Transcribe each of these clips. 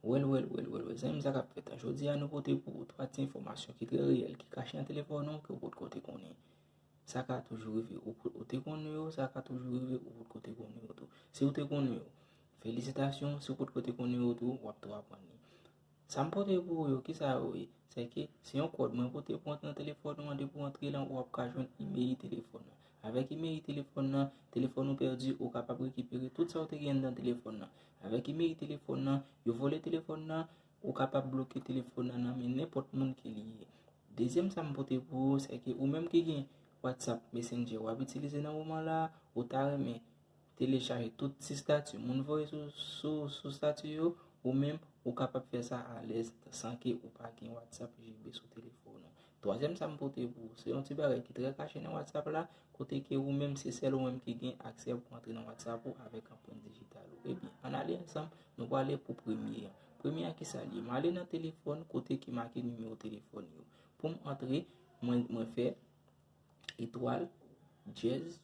Wèl wèl wèl wèl wèl zanmim sa kap fèt la jodi a nou pote pou ou 3 ti enfòmasyon ki trè reyèl ki kache nan telefòn ou ke ou potko te konnen sa ka toujou rive ou ou te konnen yo sa ka toujou rive ou potko te konnen yo tou si ou te konnen yo felisitasyon si ou potko te konnen yo tou wap tou aprann li Sa m pote pou ou yo, ki sa yo ye? Se ke, se yon kòd mwen pote pou antre nan telefòn ou an, depi ou antre la, ou ap ka jwenn imeli telefòn nan. Avèk imeli telefòn nan, telefòn ou pèdi, ou kapab rekipere tout sa ou te gen anndan telefòn nan. Avèk imeli telefòn nan, yo vòlè telefòn nan, ou kapab bloke telefòn nan nan men nenpòt moun ke li ye. Dezyèm sa m pote pou ou, se ke ou menm ki gen WhatsApp, Messenger, ou ap itilize nan moman la, ou ta renmen Telechaje tout ti stati moun voye sou stati yo, ou menm ou kapab fè sa alèz san ke ou pa gen WhatsApp JB sou telefòn ou. Twazyèm sa m pote pou ou, se yon ti bagay ki trè kache nan WhatsApp la, kote ke ou menm se sèl ou menm ki gen aksè pou antre nan WhatsApp ou avèk anprent dijital ou. Ebyen, an ale ansanm, nou pwale pou premye an. Premye an kisa li ye? M ale nan telefòn kote ki make nimewo telefòn yo. Pou m antre, mwen fè etwal, dyèz.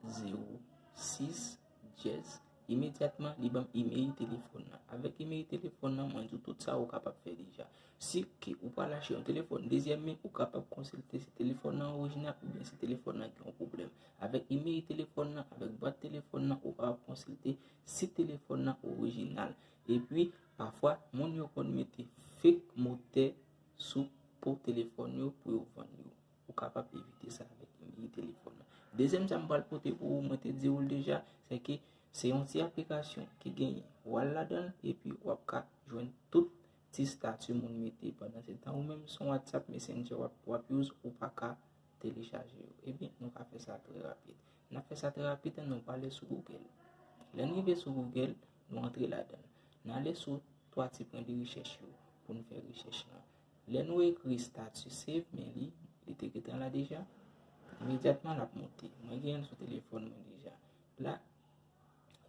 06 Jess Imedyatman li banm email telefòn nan Avèk email telefòn nan mwen di w tout sa ou kapab fè deja Si ke ou pral achte yon telefòn dezyèm men ou kapab konsilte si telefòn nan orijinal oubyen si telefòn nan gen yon pwoblèm Avèk email telefòn nan avèk bwat telefòn nan ou kapab konsilte si telefòn nan orijinal Epi pafwa moun yo konn mete fake motè sou po telefòn yo pou yo vann yo. Ou kapab evite sa avèk liy telefòn nan. Dezyèm sa m pral pote pou ou, mwen te di ou l deja, se ke se yon ti aplikasyon ki genyen wal ladan l epi w ap ka jwenn tout ti stati moun mete pandan se tan ou menm se yon WhatsApp Messenger w ap use ou pa ka telechaje yo. Ebyen, nou ka fè sa trè rapid. N ap fè sa trè rapid an nou prale sou Google. Lè n rive sou Google, nou antre ladan l. N ale sou 3 ti pwen de rechèch yo pou n fè rechèch lan. Lè nou ekri statut save me li, li te gentan la deja. Imedyatman lap monte. Mwen gen l sou telefòn mwen deja. La,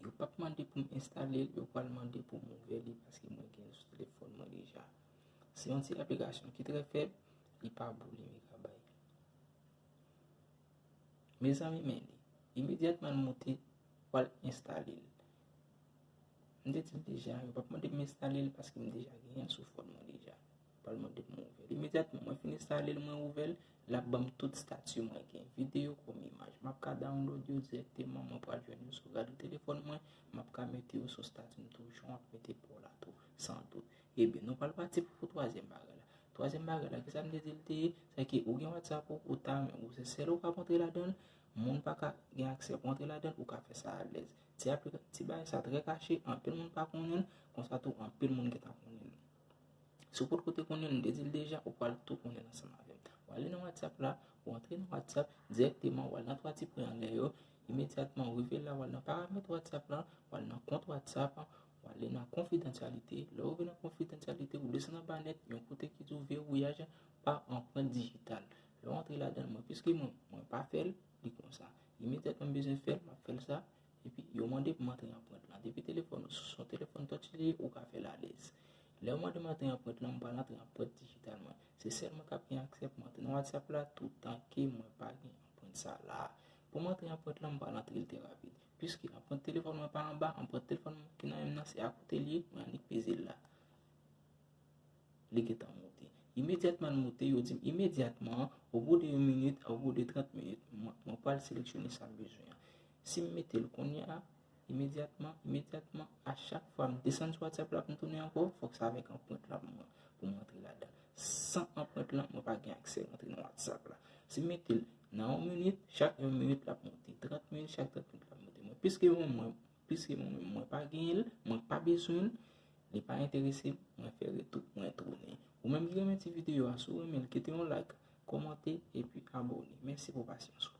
yo pap mande pou m enstale l, yo pral mande pou m ouvè li paske mwen gen l sou telefòn mwen deja. Se yon ti aplikasyon ki trè fèb, li pa boule megabay. Mezanmi men li. Imedyatman l monte, wal enstale l. M te dil deja yo pap mandem enstalel paske m deja genyenl sou fòn mwen deja. Yo pral mandem m ouvèl. Imedyatman mwen fin enstalel mwen ouvèl, lap banm tout stati mwen gen video kòm imaj. Map ka download yo dirèkteman mwen pral jwenn yo sou rad telefòn mwen, map ka mete yo sou stati m tou jan wap mete pa w la tou san dout. Ebyen nou pral pati pou twazyèm bagay la. Twazyèm bagay la kisa m te dil te ye, se ke ou gen whatsapp ou, ou ta renmen ou se sèl ou kap antre ladanl, moun paka gen aksè pou antre ladanl, ou ka fè sa alèz. Ti apre ti bagay sa trè kache, anpil moun pa konnen l, konsa tou anpil moun gen tan konnen l. Si w potko te konnen l, m te di l deja, ou pral tou konnen l ansanm avè m. Ou ale nan WhatsApp la, ou antre nan WhatsApp, dirèkteman ou al nan 3 ti pwen anlè yo, imedyatman ou rive la ou al nan paramèt WhatsApp la, ou al nan kont WhatsApp, ou ale nan konfidansyalite, lè ou rive nan konfidansyalite ou desann anba nèt yon kote ki di w vewouyaj pa anprent dijital. Lè w antre ladan l, mwen piske mwen, mwen pa fè l, Li konsa. Imediat mwen bezwen fèl, map fèl sa. Epi yo mande pou m antre anprent lan. Depi telefòn ou se yon telefòn touch li ye, ou ka fèl alèz. Lè yo mande m antre anprent lan, m pral antre anprent dijital mwen. Se sèl mwen kap gen aksè pou m antre nan WhatsApp la toutan ke mwen pa gen anprent sa la. Pou m antre anprent lan, m pral antre l trè rapid. Piske anprent telefòn mwen pa anba, anprent telefòn mwen ki nan men m nan se akote li ye, mwen annik peze l la. Li gentan moute. Imedyatman l moute, yo di m imedyatman an, o bou de yon minit, o bou de trant minit, mwen pral seleksyone sa m bezwen an. Si m mete l kounye a, imedyatman, imedyatman, a chak fwa m desann sou Whatsapp la pou m tounen ankò, fòk sa avèk anprent la pou mwen, pou m rantre ladan. San anprent lan, mwen pa gen aksè rantre nan Whatsapp la. Si m mete l nan yon minit, chak yon minit l ap moute. Trant minit, chak trant minit l ap moute. Mwen plis ke yon mwa. Piske mwen menm mwen pa genyen l, mwen pa bezwen l, li pa enterese m, mwen fè retou, mwen tounen. Ou menm ki renmen ti videyo a, si w renmen l, kite yon like, kòmante, epi abone. Mèsi pou pasyans ou.